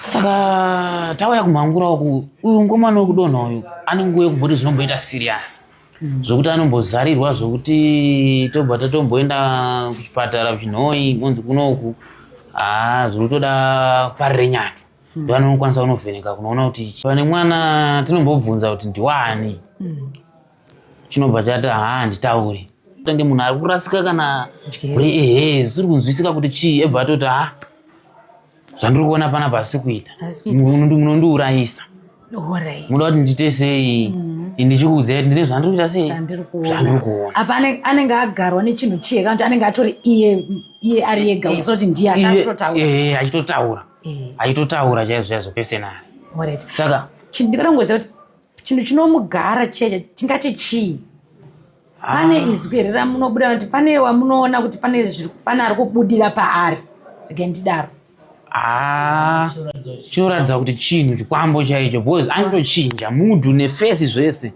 saka tauya kumhangura uku uyu ngomwana wekudonha uyu ane nguva yekumboti zvinomboita siriyasi hmm. zvekuti anombozarirwa zvekuti tobva tatomboenda kuchipatara kuchinhoi monzi kunoku haa zvekutoda parirenyatu hmm. ndoanonokwanisa kunovheneka kunoona kuti pane mwana tinombobvunza kuti ndiwani hmm. chinobva chati haa handitauri tange munhu ari kurasika kana uri ehe zvisiri kunzwisika kuti chii ebva atoti ha zvandiri kuona pana pasi kuita munondiurayisa munoda kuti ndiite sei mm. ndichikuudza kuti ndine zvandiri kuita sei zvandiri kuona apa anenge agarwa nechinhu chiye kana kuti anenge atori iye iye ari ega eh, uzoti ndiye asakutotaura eh, eh, achitotaura achitotaura chaizvo chaizvo pesenari saka ndikada kungoziva kuti chinhu chinomugara cheche tingati chii ah. pane izwi here ramunobuda kuti pane wamunoona kuti pane pane ari kubudira paari rege ndidaro ah, chinoratidza kuti chinhu chikwambo chaicho because anotochinja mudhu nefesi zvese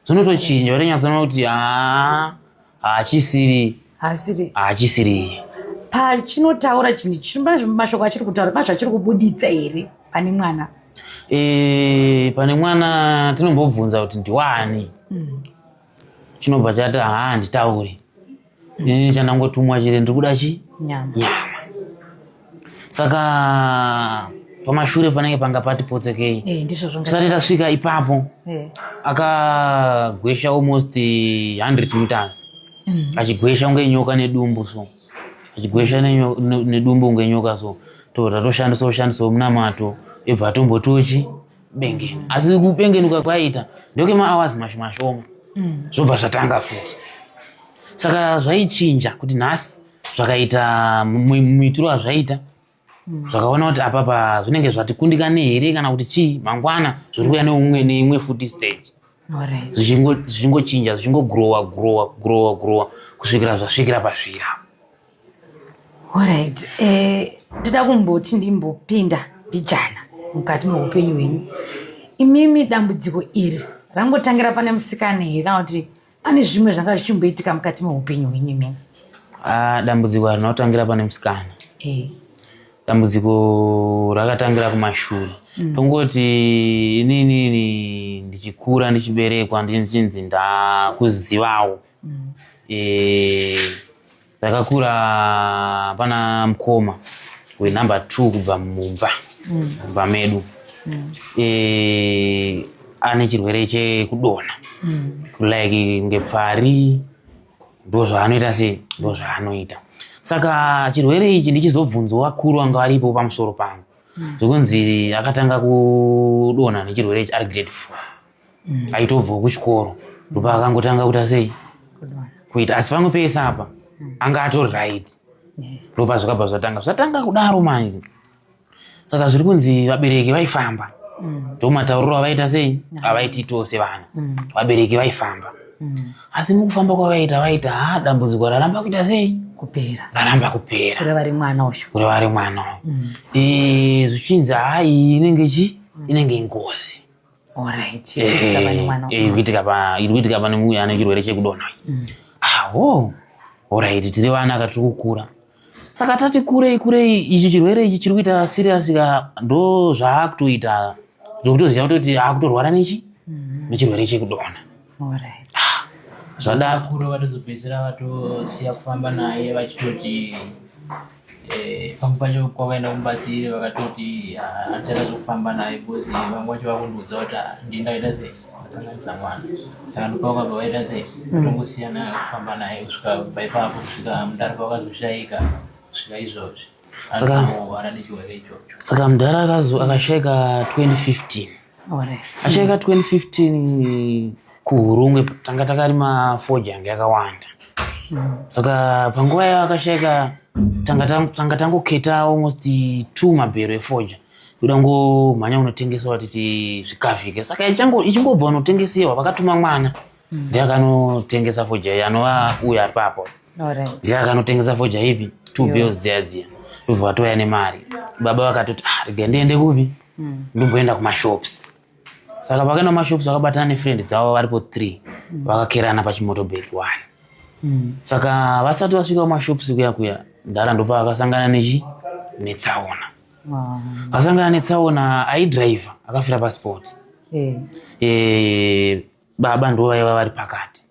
zvinotochinja utonyatsona kuti haa ah. haachisiri haasiri haachisiri pachinotaura chinhu chino pane zvimwe mashoko achiri kutaura pane zvachiri kubuditsa here pane mwana e, pane mwana tinombobvunza kuti ndiwani chinobva chati haa handitauri ini chandangotumwa chete ndiri kuda chi nyama nyama saka pamashure panenge panga pati potsokei eh, tisati tasvika ipapo eh. akagwesha almost 100 meters mm. achigwesha kunge nyoka nedumbu so achigwesha nedumbu kunge nyoka so tobva tatoshandisa ushandisa munamato ebva atombotochi bengeni asi kubengenuka kwaita ndoke maawazi mashi mashoma mm. zvobva zvatanga futi saka zvaichinja kuti nhasi zvakaita muitiro azvaita hmm. zvakaona kuti apapa zvinenge zvatikundikane here kana kuti chii mangwana zviri kuya neumwe neimwe futi stage zvichingochinja zvichingogrowa growa growa growa kusvikira zvasvikira pazvira orit eh, ndida kumboti ndimbopinda mbijana mukati meupenyu hwenyu imimi dambudziko iri rangotangira pane musikana here kana kuti Pane zvimwe zvanga zvichimboitika mukati meupenyu hwenyu imimi? Ah, dambudziko harina kutangira pane musikana. Eh. Dambudziko rakatangira kumashure. Mm. Tongoti inini ini ndichikura ndichiberekwa ndichinzi ndakuzivawo. Mm. Eh, Ndakakura pana mkoma wenumber two kubva mumba mm. mumba medu mm. e, ane chirwere chekudona mm. like ngepfari ndozvaanoita sei ndozvaanoita saka chirwere ichi ndichizobvunzo vakuru vanga varipo pamusoro pangu zvekunzi akatanga kudona nechirwere ichi ari grade four aitobvawo kuchikoro ndopa akangotanga kuita sei kuita asi pamwe pese apa anga atori right ndopa zvakabva zvatanga zvatanga kudaro manje saka zviri kunzi vabereki vaifamba ndomatauriro avaita sei avaiti tose vana vabereki vaifamba asi mukufamba kwavaita vaita ha dambudziko raramba kuita sei kupera raramba kupera kureva ri mwana uyu kureva ri mwana uyu zvichinzi hai inenge chi inenge ngozi kuitika pane muya ane chirwere chekudonha mm. awo ah, orit tiri vana katiri kukura saka tati kurei kurei ichi chirwere ichi chiri kuita siriyasi ka ndo zvaakutoita zvokutoziva kutoti akutorwara nechi mm-hmm. nechirwere chekudonha Alright. Zvadakuro vatozopedzisira vatosiya kufamba naye vachitoti eh, pamwe pacho kwavaenda kumbatsiri vakatoti ah, handisaita zvekufamba naye because vamwe vacho vakundiudza kuti ah, ndini ndakaita sei ndakanganisa mwana saka ndopavakabva vaita sei tongosiya naye kufamba naye kusvika paipapo kusvika mudhara pavakazoshaika kusvika izvozvi Saka- anorwara nechirwere ichocho saka mudhara akazo- akashaika 2015 Acheka 2015 kuhurungwe tanga takarima foji yange yakawanda mm. saka panguva yayo akasheka tanga tangoketa almost two mabhero efoja kuda ngomhanya unotengesewa titi zvikavhike saka ichingobva unotengesewa vakatuma mwana mm. ndiye akanotengesa foja iyi anova uya aripapo ndiye akanotengesa foja ipi two bills dziya dziya ndobva vatouya nemari baba vakatoti ah, rega ndiende kupi mm. ndomboenda kumashops saka pakaenda kumashops vakabatana nefriend dzavo varipo three mm. vakakerana pachimotobek one mm. saka vasati vasvika kumashops kuya kuya ndara ndopa vakasangana nechi netsaona vakasangana netsaona aidriver akafira pasport eh. eh, baba ndo vaiva vari pakati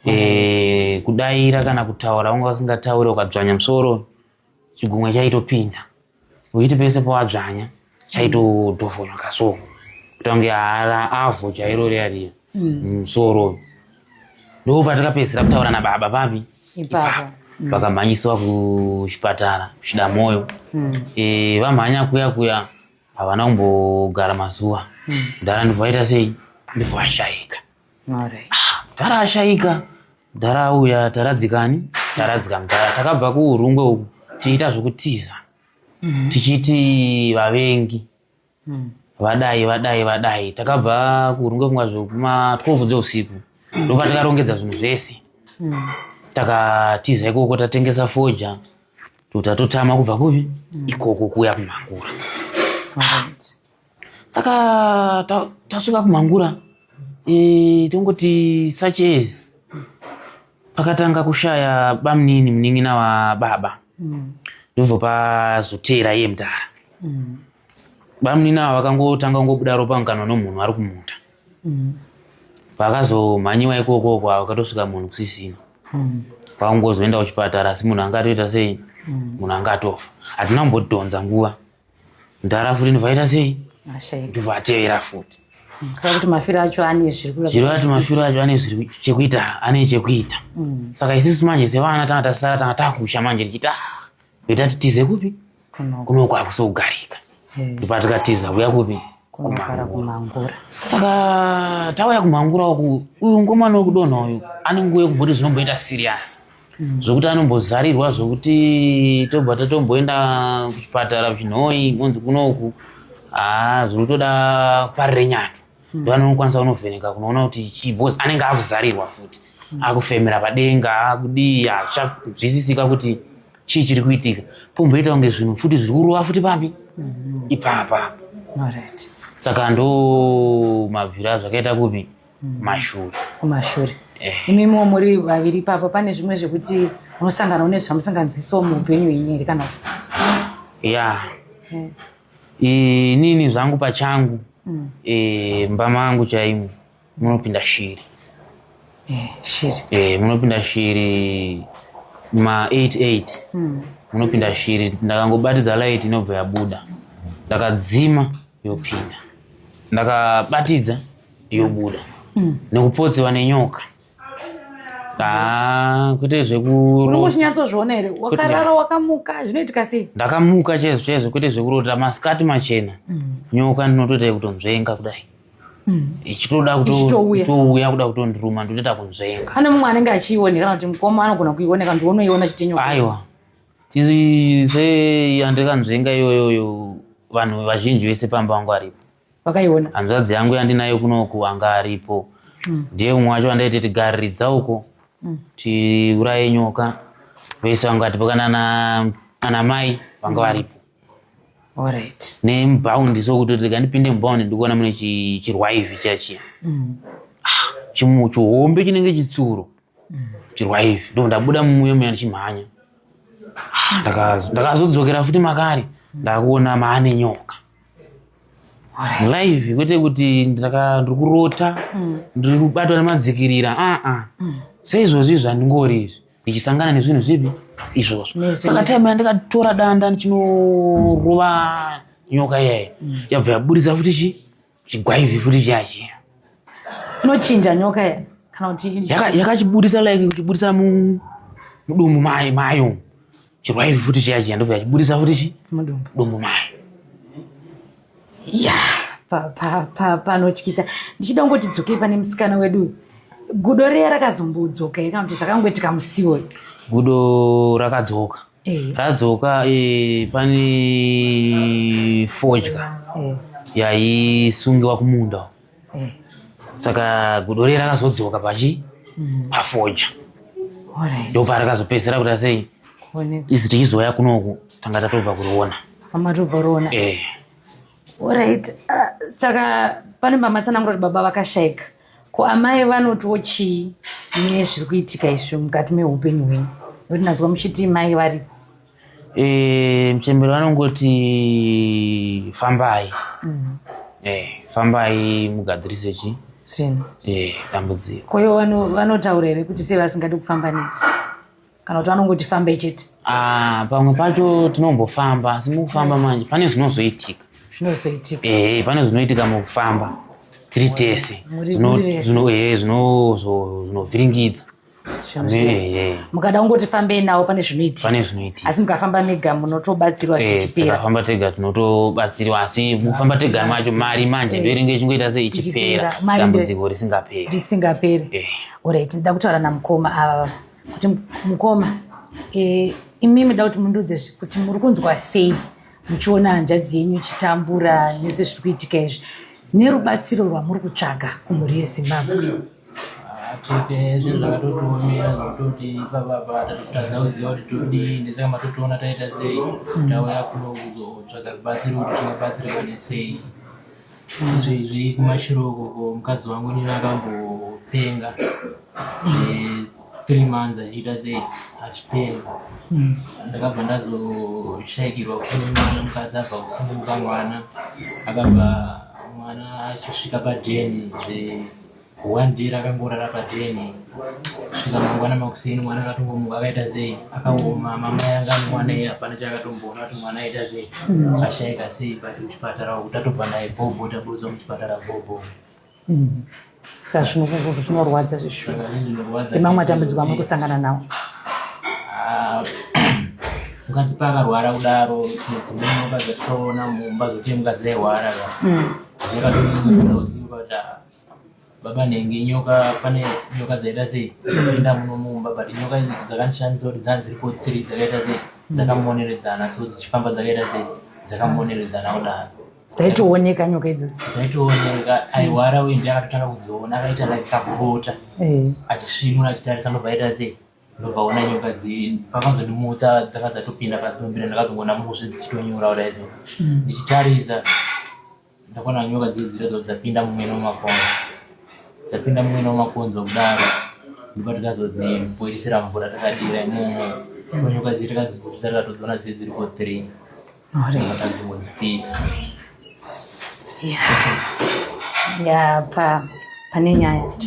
eh, kudaira kana kutaura vanga vasingataure ukadzvanya musoro chigumwe chaitopinda uchiti pese powadzvanya chaitodhofonywa kaso kutange hara avo chairo riya riya musoro mm, ndo patakapedzisira kutaura nababa papi ipapo mm. vakamhanyiswa kuchipatara kuchida mwoyo mm. e, vamhanya kuya kuya havana kumbogara mazuva mdara ndibva vaita sei ndibva vashaika mdhara ashaika mdhara auya taradzikani taradzika mdhara takabva kuurungwe uku tiita zvekutiza mhm. tichiti vavengi mhm. vadai vadai vadai takabva kuurungwe kunga zvekuma 12 dzeusiku mhm. ndopa takarongedza zvinhu zvese takatiza ikoko tatengesa foja totatotama kubva kupi ikoko kuya kumangura saka tasvika kumhangura e, tongoti such as pakatanga kushaya bamunini munin'ina wababa mm. ndozopa zotera iye mudhara mm. bamunini ava vakangotanga kungobuda ropa mukanwa nomunhu ari kumuta mm. pakazomhanyiwa ikokoko vakatosvika munhu kusisina kwakungozoenda kuchipatara asi munhu anga atoita sei munhu anga atofa hatina kumbodhonza nguva mdara futi ndivaita sei ndivatevera futi kuti mafiro acho ane zvirikuti mafiro acho ane zviri chekuita ane chekuita mm. saka isisu manje sevana tanga tasara tanga takusha manje tichita kuita ah, titize kupi kunoko akusi kugarika ndipa tikatiza kuya kupi kumangura saka tauya kumangura uku uyu ngomwana wekudonha uyu ane nguva yekumboti zvinomboita siriyasi mm. zvekuti anombozarirwa zvekuti tobva tatomboenda kuchipatara kuchinhoi monzi kunoku haa zviri kutoda parirenyana mm. ndoanokwanisa kunovheneka kunoona kuti chii bcause anenge akuzarirwa futi mm. akufemera padenga akudii azvizisika kuti chii chiri kuitika pomboita kunge zvinhu futi zviri kurova futi pambi mm-hmm. ipapa saka ndo mabvira zvakaita kupi mm. kumashure kumashure eh. imimiwo muri vaviri ipapo pane zvimwe zvekuti unosangana une zvamusinganzwisiwo muupenyu henyu here kana kuti ya eh. inini zvangu pachangu mm. eh, mba mangu chaimo munopinda shiri shiri munopinda shiri ma 88 mm. munopinda shiri ndakangobatidza light inobva yabuda ndakadzima yopinda ndakabatidza yobuda mm. nekupotsiwa nenyoka ah, kwete zvekuchinyatsoona here wakarara wakamuka zvinoitika sei ndakamuka chaizvo chaizvo kwete zvekurota masikati machena mm. nyoka ndinotoita yekutonzvenga kudai mm. ichitoda kutouya kuda kutondiruma ndotoita kunzvenga pane mumwe anenge achiionekana kuti mukoma anogona kuioneka ndionoiona chitinyoka aiwa tiri se yandikanzvenga iyoyoyo vanhu vazhinji vese pamba vangu aripo wakaiona hanzvadzi yangu yandinayo kunoku anga aripo hmm. ndiye umwe wacho vandaiti tigariridza uko hmm. tiuraye nyoka vese vanga vatipokana nana mai vanga hmm. varipo orit nemubhaundi so kuti rega ndipinde mubhaundi ndikuona mune chirwaivi chiya chiya ah, chimu chihombe chinenge chitsuro chirwaivi ndo ndabuda mumuyo muya ndichimhanya ah, ndakazodzokera futi makare ndakuona maane nyoka live kwete kuti ndiri kurota mm. ndiri kubatwa nemadzikirira aa ah, ah. mm. seizvozvi zvandingori izvi ndichisangana nezvinhu zvipi izvozvo saka time yandikatora danda ndichinorova nyoka iyayo mm. yabva yaburitsa futi chi chigwaivi futi chiyachi inochinja nyoka ya kana kuti yakachiburitsa like kuchiburitsa mudumbu mayo chirwaivi futi chiya chiya ndobva yachiburitsa futi chi mudumbu dumbu mayo ya panotyisa ndichida kungoti dzokei pane musikana wedu uyu gudo riya rakazombodzoka here kana kuti zvakangoitika musiwo gudo rakadzoka eh. radzoka eh, pane fodya eh. yaisungiwa kumunda eh. saka gudo riye rakazodzoka pachi mm. pafoja ndo parakazopedzisira kuda sei isi tichizoya kunoku tanga tatobva kuriona amatobva riona eh. orit ah, saka pane mamatsanangura kuti baba vakashaika ko amai vanotiwo chii nezviri kuitika izvi mukati meupenyu hwenyu notinazwa muchiti mai varipo Eh, mchembere vanongoti fambai mm. eh, fambai mugadzirise chi zvinhu eh, dambudziko koyo vanotaura here kuti sei vasingadi kufamba nei kana kuti vanongoti fambai chete ah, pamwe pacho tinombofamba asi mukufamba manje pane zvinozoitika zvinozoitika eh, pane zvinoitika mukufamba tiri tese zvinovhiringidza mukada kungoti fambei nawo pane zvinoitika pane zvinoitika asi mukafamba mega munotobatsirwa eh, zvichiperafamba tega tinotobatsirwa asi mukufamba tega macho mari manje eh. ndoinenge ichingoita sei ichipera dambudziko risingaperi risingaperi eh. orit nda kutaura namukoma ava kuti mukoma imi muda kuti mundiudze kuti muri kunzwa sei muchiona hanzvadzi yenyu ichitambura nese zviri kuitika izvi nerubatsiro rwamuri kutsvaga kumhuri yezimbabwe atsveke zvinhu zvakatotiomera zvekutoti ipapa apa tatotadza kuziva kuti todii ndesaka matotiona taita sei hmm. tauya kuno kuzotsvaga rubatsiro kuti tingabatsirikane sei izvo izvi kumashiro ukoko mukadzi wangu nini akambopenga three months achiita sei achipenga hmm. ndakabva ndazoshaikirwa kufuna mwana mukadzi abva kusunguka mwana akabva mwana achisvika padheni zve one day rakangorara padeni svika mangwana makuseni mwana akatongomuka akaita sei akaoma mama yanga mwana iye hapana chaakatomboona kuti mwana aita sei hmm. ashaika sei but kuchipatara uku tatobva naye bhobho taburudzwa muchipatara bhobho hmm. saka zvinokukuva zvinorwadza zvishu emamwe atambudziko amuri kusangana nawo ah, mukadzi paakarwara kudaro dzimwe mukadzi atoona mumba zvotii mukadzi airwara hmm. baba nenge nyoka pane nyoka dzaita sei enda muno mumba but nyoka dzakandishandisa kuti dzanga dziripo tiri dzakaita sei dzakamoneredzana so dzichifamba dzakaita sei dzakamoneredzana kudaro dzaitooneka nyoka idzodzo dzaitooneka aiwara uye ndiye akatotanga kudziona akaita like kabota eh. achisvinura achitarisa ndobva aita sei ndobva ona nyoka pakanzondimutsa dzaka dzatopinda pasi pembira ndakazongoona mushe dzichitonyura kudaizo hmm. ndichitarisa ndakaona nyoka dzii dziradzo dzapinda mumwene wemakonzo dzapinda mumwene wemakonzo kudaro ndopa tikazodzimboirisira mvura takadira imomo nyoka dzii takadziburitsa takatodziona dzii dziriko three takadzimbodzipisa ya pa pane nyaya